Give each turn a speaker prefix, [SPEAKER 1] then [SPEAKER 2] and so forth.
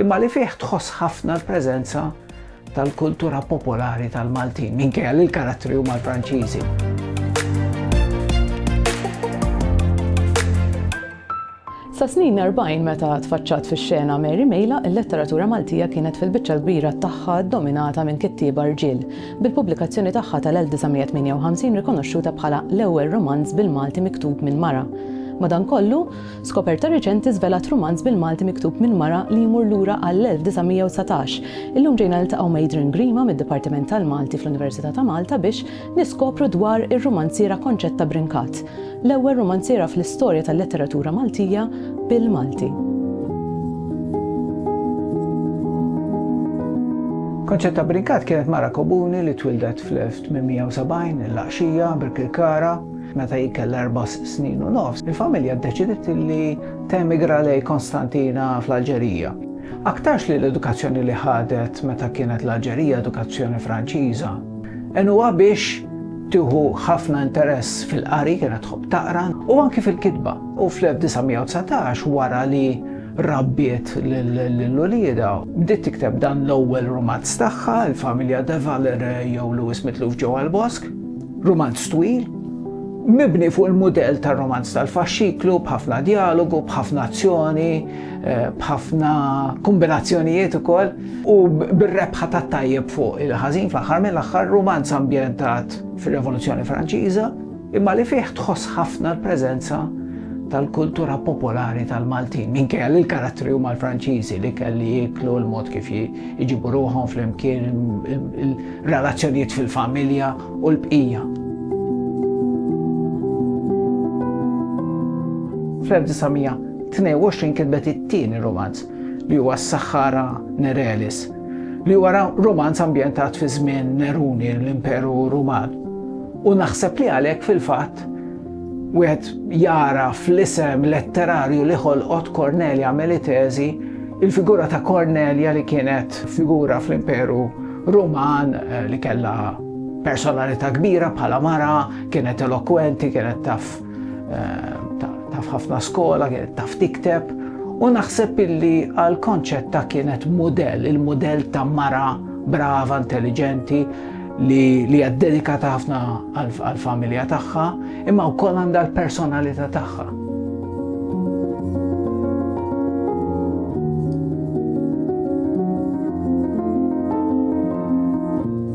[SPEAKER 1] imma li fih tħoss ħafna l-preżenza tal-kultura popolari tal-Maltin, minkejja li l-karattri huma l-Franċiżi.
[SPEAKER 2] Sa snin 40 meta tfaċċat fix-xena Mary Mejla, il-letteratura Maltija kienet fil-biċċa l-kbira tagħha dominata minn kittieba rġiel. bil-pubblikazzjoni tagħha tal-1958 rikonoxxuta bħala l-ewwel rumanz bil-Malti miktub minn mara. Madankollu, skoperta riċenti żvelat rumanz bil-Malti miktub minn mara li jmur lura għall-1919. Illum ġejna niltaqgħu ma' Adrian Grima mid-Dipartiment tal-Malti fl-Università ta' Malta biex niskopru dwar ir-rumanziera Konċetta Brincat. L-ewwel rumanziera fl-istorja tal-letteratura Maltija bil-Malti.
[SPEAKER 1] Konċetta Brincat kienet mara kobuni li twildet fl-1870 il-Laqxija, Birkirkara, meta hi kellha erbas snin u nofs, il-familja ddeċidiet li temigra lej Konstantina fl-Alġerija. Aktarx li l-edukazzjoni li ħadet meta kienet l-Alġerija edukazzjoni Franċiża, għenuha biex Tieħu ħafna interess fil-qari, kienet tħobb taqra, u anki fil-kitba. U fl-1919 wara li rabbiet l-ulieda, bdiet tikteb dan l-ewwel rumanz tagħha, il-familja De Valer jew Lewis Mitluf ġew għall-bosk, rumanz twil, mibni fuq il-mudell tar-romanz tal-faxxiklu b'ħafna djalogu, b'ħafna azzjoni, eh, b'ħafna kombinazzjonijiet ukoll. u bir-rebħa tat-tajjeb fuq il-ħażin fl-aħħar mill-aħħar rumanz ambjentat fir-Revoluzzjoni Franċiża imma li fih tħoss ħafna l-preżenza tal-kultura popolari tal-Maltin minkejja li l-karattri huma l-Franċiżi li kelli jieklu l-mod kif jġibu ruħhom flimkien il-relazzjonijiet fil-familja u l-bqija. Fl-1922 kitbet it-tieni rumanz li huwa s-Sahara Nerelis, li huwa romanz ambjentat fi żmien Neruni l-Imperu Ruman. U naħseb li għalhekk fil-fatt wieħed jara fl-isem letterarju li ħolqot Cornelia Melitesi il-figura ta' Cornelia li kienet figura fl-Imperu Ruman eh, li kellha personalità kbira bħala mara, kienet elokwenti, kienet taf Eh, taf ħafna skola, kienet taf tikteb, u naħseb illi għal konċett ta' kienet model, il-model ta' mara brava, intelligenti, li li għad-dedikata ħafna għal-familja tagħha, imma wkoll għandha l-personalità tagħha.